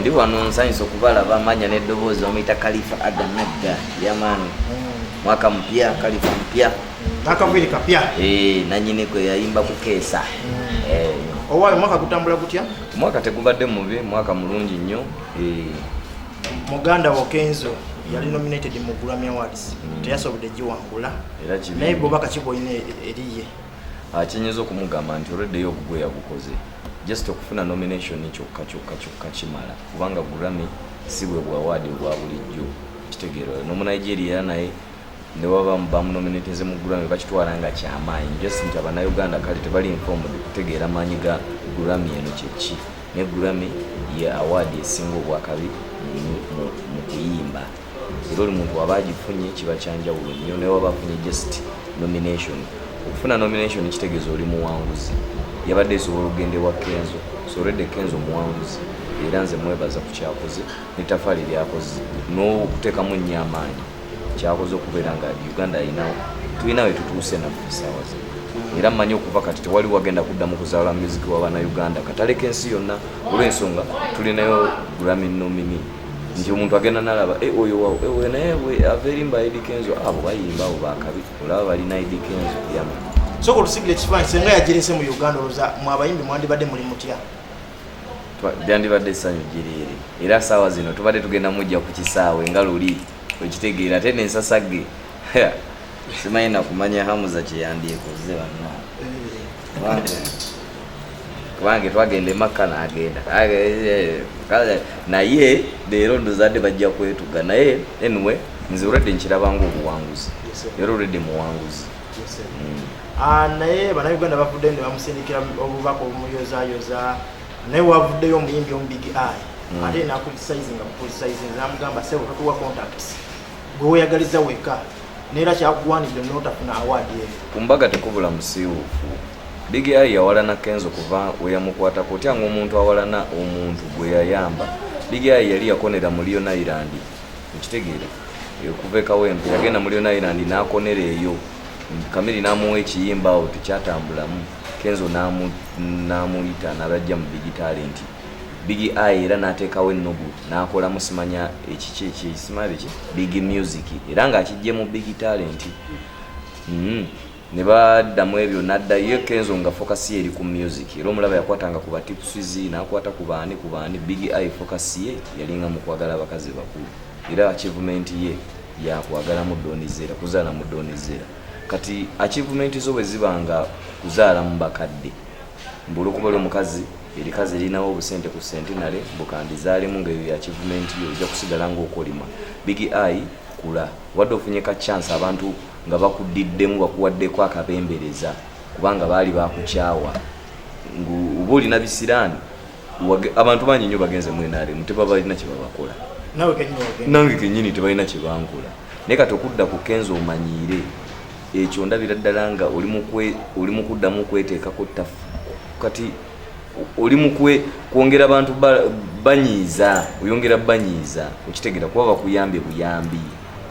ndi wano nsanyusa okubalaba amanya n'eddoboozi bamuyita kalifa aga nagga yamaani hmm. mwaka mupya kalifa mupya nakaviri kapya eh, nanyini kwe yayimba kukeesa hmm. eh. owayo mwaka gutambula gutya mwaka tegubadde mubi mwaka mulungi nnyo eh. muganda wo kenzo yali nominated mu grammy awards hmm. teyasobodde giwangula naye bwobaka kiboyina eriye Ah, kyenyinza okumugamba nti olweddeyo ogugwe yagukoze just okufuna nomination kyokka kyokka kyokka kimala kubanga gurami si bwe bwawaadi obwa bulijjo kitegeero nomunigeria era naye newaba bamunominateze mu gurami bakitwala nga kyamaanyi just nti abanauganda kale tebali informed kutegeera maanyi ga gurami eno kyeki ne gurami ye awaadi esinga obwakabi mu kuyimba era oli muntu waba agifunye kiba kyanjawulo nnyo naye waba afunye just nomination okufuna nomination kitegeeza oli muwanguzi yabadde esobola okugenda ewa kenzo sorede kenzo muwanguzi era nze mwebaza ku kyakoze netafaali lyakoze n'okuteekamu nnyo amaanyi kyakoze okubeera nga uganda alinawo tulina we tutuuse nafe esaawa ze era mmanyi okuva kati tewali wagenda kuddamu kuzaala muziki wa bana uganda kataleka ensi yonna olw'ensonga tulinayo grammy nomini nti omuntu agenda nalaba eh, oyo wawo eh, oyo naye ava erimba edi kenzo abo ah, bayimba abo bakabi olaba balina edi kenzo yama soka olusigira ekifaanyi senga yagirese mu uganda oloza mu abayimbi mwandibadde muli mutya byandibadde essanyu gyereere era saawa zino tubadde tugenda mujja ku kisaawe nga luli okitegeera ate nensasage simanyi nakumanya hamuza kyeyandyekoze banna kubanga twagenda emakka nagenda naye leero ndozadde bajja kwetuga naye anyway nze olwedde nkirabanga obuwanguzi era olwedde muwanguzi mm. ah, naye banauganda bavudde ne bamusindikira obubaka obumuyozayoza naye wavuddeyo omuyimbi omubigi ai mm. ate nakulisaizi nga mukulisaizi namugamba sebo tatuwa contacts gwe weyagaliza weka neera kyakuwanidde notafuna awaadi eyo ku mbaga tekubula musiiwuufu bigi ayi yawalana kenzo kuva weyamukwatako otya nga omuntu awalana omuntu gwe yayamba bigi ayi yali yakonera mu liona irandi okitegeera okuva ekawempe yagenda mu liona irandi nakonera eyo kamiri namuwa ekiyimba awo tekyatambulamu kenzo namuyita nabajja mu bigi talenti Big Eye era n'ateekawo ennugu n'akolamu simanya ekiki ekisimanya biki Big Music era ng'akiggye mu Big Talent mm. ne baddamu ebyo n'addayo e Kenzo nga focus ye eri ku music era omulaba yakwatanga ku batipusiz n'akwata ku baani ku baani Big Eye focus ye yalinga mu kwagala abakazi bakulu era achievement ye yakwagala mu donizera kuzaala mu donizera kati achievement zo bwe ziba nga kuzaala mu bakadde mbulukuba lyo mukazi erikazi erinawo obusente ku sentinale bukandizaalemu nga eyo ya kivumenti yo ojja kusigala ngaokolima bigi ai kula wadde ofunye ka chance abantu nga bakuddiddemu bakuwaddeko akabembereza kubanga baali bakukyawa oba olina bisiraani abantu bangi nyo bagenze mu nrm tebabalina kyebabakola nange kenyini tebalina kyebankola naye kati okudda ku kenza omanyiire ekyo ndabira ddala nga oli mukuddamu okweteekako ttafu kati oli mukwe kwongera bantu banyiiza oyongera banyiiza okitegera kuba bakuyambye buyambi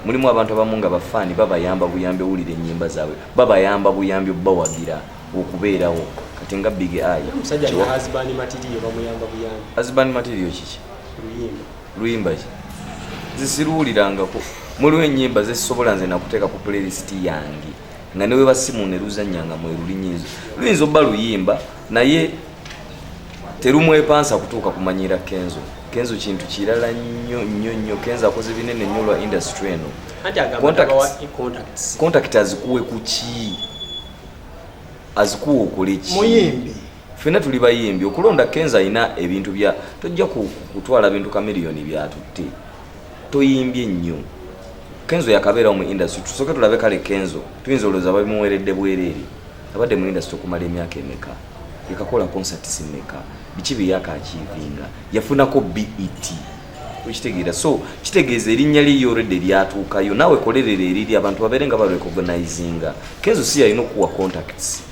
mulimu abantu abamu nga bafaani babayamba buyambi owulira enyimba zaabwe babayamba buyambi obubawagira okubeerawo kati nga big eye azban material kiki luyimba ki zisiruwulirangako muliwo enyimba zezisobola nze nakuteeka ku playlist yange nga neweba simu neruzanya nga mwerulinyinzo luyinza oba luyimba naye terumwepansa kutuuka kumanyiira kenzo kenzo kintu kirala nnyo nnyo nnyo kenzo akoze binene nnyo lwa industry eno contact azikuwe kuki azikuwa okoleki fena tuli bayimbi okulonda kenza alina ebintu bya tojja kutwala bintu kamiliyoni byatutte toyimbye nnyo kenzo yakabeerawo mu industry tusooke tulabe kale kenzo tuyinza olowooza babimuweredde bwereere abadde mu industry okumala emyaka emeka yakakola concerts meka biki byeyakakyivinga yafunako bet okitegeera so kitegeeza erinnya lye yorede lyatuukayo naawe kolerera eriri abantu babeere nga barecognizinga kenzo si yalina okuwa contacts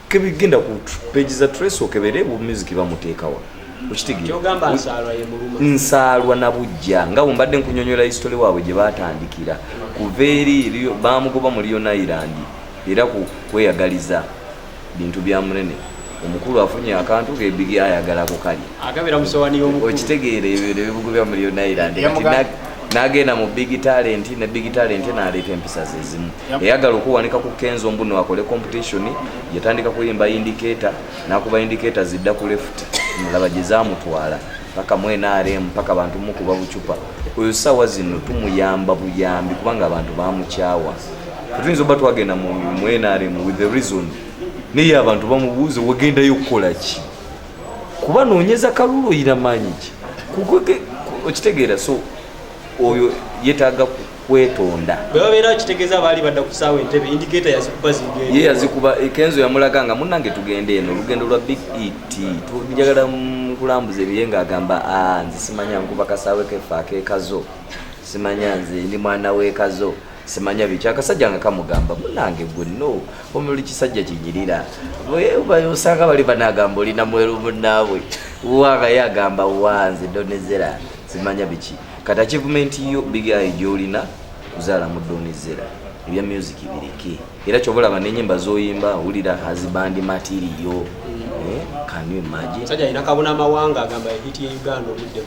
kebigenda ku page za trace okebere bu music bamutekawa nsaalwa nabujja nga bwembadde nkunyonyola history waabwe gye baatandikira kuva eri bamugoba mu lion island era kweyagaliza bintu bya munene omukulu afunye akantu gebigi ayagala kukali okitegeera ebibugo bya mu lion island nagenda mu big talent ne big talent naleeta empisa zezimu yayagala okuwanika ku kenzo mbuno akole competition yatandika kuyimba indicator nakuba indicator zidda ku left mulaba gyezamutwala paka mu nrm paka bantu mukuba bucupa oyo sawa zino tumuyamba buyambi kubanga abantu bamukyawa tetuyinza oba twagenda mu nrm with the reason naye abantu bamubuuze wagendayo okukola ki kuba nonyeza kalulu oyira maanyi ki okitegeera so oyo yetaaga kwetonda bwe babeera kitegeza baali badda ku saawa entebe indiketa yazikuba zigenda ye yazikuba eh, kenzo yamulaga nga munange tugende eno olugendo lwa big et tujagala kulambuza ebiye nga agamba ah, nze simanya nkuba kasaawe kefe akekazo simanya nze ndi mwana wekazo simanya biki akasajja nga kamugamba munange gwe no omuli kisajja kinyirira osanga bali banagamba olina mweru munaabwe wagaye agamba wanze donezera simanya biki kati achievement yo big eye gyolina kuzaala mu doni zera ebya music bireke era kyoba olaba nenyimba zoyimba wulira hazibandi matiriyo eh, can you imagine sajja alina kabona amawanga agamba hiti ye uganda obudde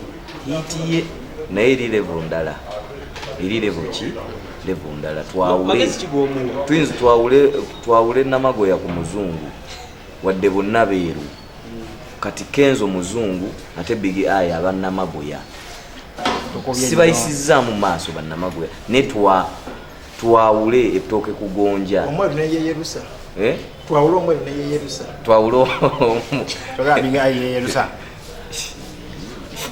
hiti ye naye eri level ndala eri level ki level ndala twawule twinzi twawule twawule namagoya ku muzungu wadde bonna beeru kati kenzo muzungu ate bigi ayi abannamagoya sibayisizzaamu maaso bannamagoya naye twawule ettooke kugonja eh? twawule omweru neyeyerusa twawule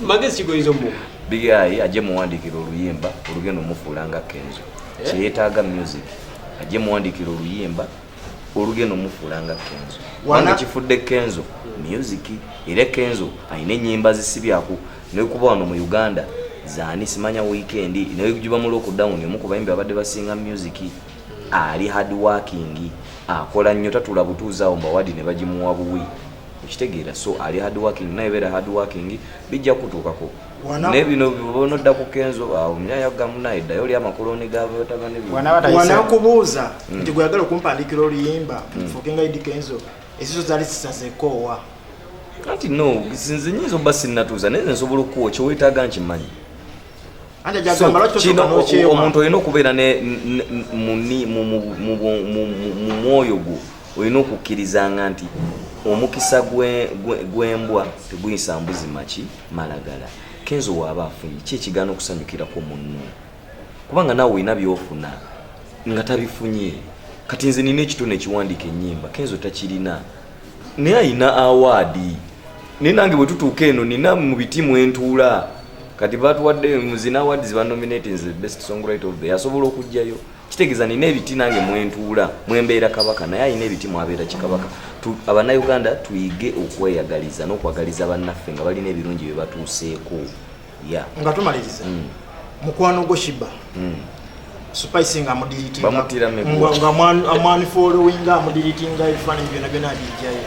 magezi kigoyiza omu bigi ayi ajje muwandiikira oluyimba olugenda omufuula nga kenzo eh? kyeyetaaga music ajje muwandiikira oluyimba olugenda omufuula nga kenzo kubanga kifudde kenzo music era kenzo alina enyimba zisibyaku nekuba wano mu uganda zani simanya weekend nejuba mu lockdown omu kubayimbi abadde basinga music ali hard working akola nnyo tatula butuuzi awo mbawadi ne bagimuwa buwi okitegeera so ali hard working naye beera hard working bijja kutuukako naye bino bona odda ku kenzo awo myayo gamunaye ddayo oli amakoloni gabatabani wanakubuuza hmm. nti gweyagala okumpandikira oluyimba hmm. fukinga idi kenzo esiso zali sisazekoowa anti no nze nyinza oba sinatuuza naye nze nsobola okukuwa kyewetaaga nkimanyi omuntu olina okubeera mu mwoyo gwo olina okukkirizanga nti omukisa gw'embwa teguyisa mbuzi maki malagala kenzo waaba afunye ki ekigaana okusanyukirako munno kubanga naawe olina byofuna nga tabifunye kati nze nina ekitone ekiwandiika ennyimba kenzo takirina naye alina awaadi naye nange bwe tutuuka eno nina mu biti mwentuula kati batuwadde muzina awaadi zibanominatinze best song right of the asobola okugjayo kitegeza nina ebiti nange mwentuula mwembeera kabaka naye alina ebiti mwabeera kikabaka abanauganda tuyige okweyagaliza n'okwagaliza bannaffe nga balina ebirungi bye batuuseeko ya nga tumaliriza mm. mukwano gwo shiba mm. spice nga amudiritingamwanifolowinga amudiritinga ebifaananyi byona byona abijjayo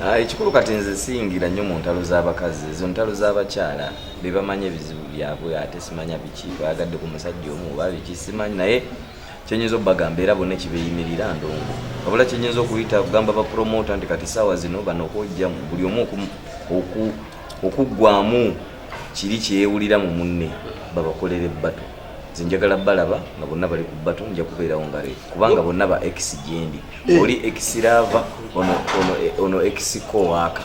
ah, ekikulu kati nze siyingira nnyo mu ntalo z'abakazi ezo ntalo z'abakyala bebamanyi ebizibu byabwe ate simanya biki bayagadde ku musajja omu oba biki simanyi naye kyenyinza okubagamba era bonna ekibeyimirira ndongo wabula kyenyinza okuyita kugamba bapromota nti kati saawa zino bano okwojjamu buli omu okuggwamu kiri kyeyewulira mu munne babakolere bato nze njagala balaba nga bonna bali ku batu nja kubeerawo nga refu kubanga bonna ba ex gyendi eh. oli ex laava ono ex kowaaka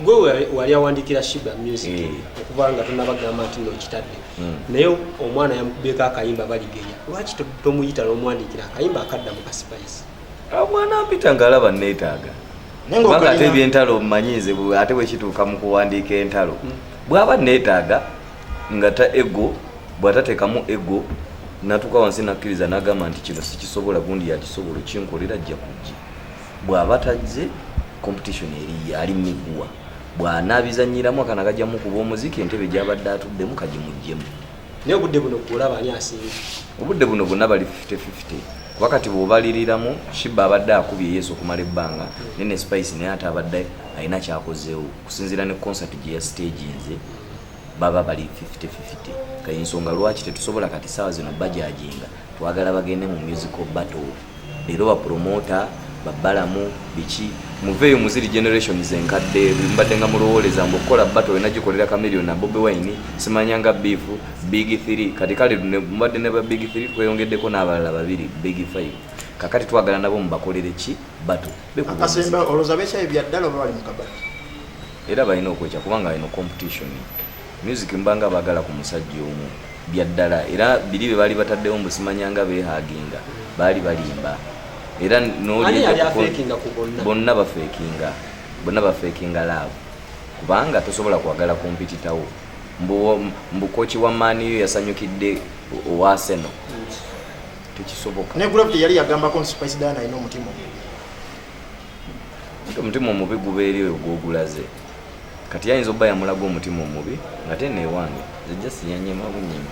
gwe wali awandikira shiba music eh. okuba nga tonabagamba nti nokitadde hmm. naye omwana yamukubyeko akayimba baligeya lwaki tomuyita nomuwandikira akayimba akadda mu kasipayisi ah, omwana mpita ngaalaba neetaaga kubanga ate ebyentalo mmanyi nze ate bwekituuka mu kuwandiika entalo hmm. bwaba neetaaga nga ta ego bw'atateekamu ego natuuka wansi nakkiriza n'agamba nti kino sikisobola gundi yakisobola okinkolera ajja kujja bw'aba tajje competition eriye ali miguwa bw'anaabizannyiramu akana kajjamu kuba omuziki entebe gy'abadde atuddemu kagimuggyemu naye obudde buno kulaba ani asinga obudde buno bonna bali 5050 kuba kati bw'obaliriramu shiba abadde akubye yesu okumala ebbanga naye ne spice naye ate abadde alina kyakozeewo okusinziira ne concert gye ya stage nze baba bali 50-50 kale nsonga lwaki tetusobola kati saawa zino bajajinga twagala bagende mu musical battle leero bapromota babalamu biki muveeyo muziri generations enkadde mbadde nga mulowooleza mbu okukola battle olina gikolera kamillion na bobi wine simanyanga beef big 3 kati kale mubadde ne ba big 3 kweyongeddeko n'abalala babiri big 5 kakati twagala nabo mubakolere ki battle akasemba olowooza bekyayi byaddala oba bali mukabati era balina okwekya kubanga eno competition music mbanga bagala ku musajja omu byaddala era biri bye baali bataddewo mbu simanyanga behaginga baali balimba era bonna bafekinga bonna bafekinga laavu kubanga tosobola kwagala kumpititawo mbukoki wa maaniyo yasanyukidde owaseno tekisoboka ne gravity yali yagambako nti spice dana alina omutima omutima omubi gubeeri oyo gwogulaze kati yayinza okuba yamulaga omutima omubi ngate newange zijja siyanyema bunyima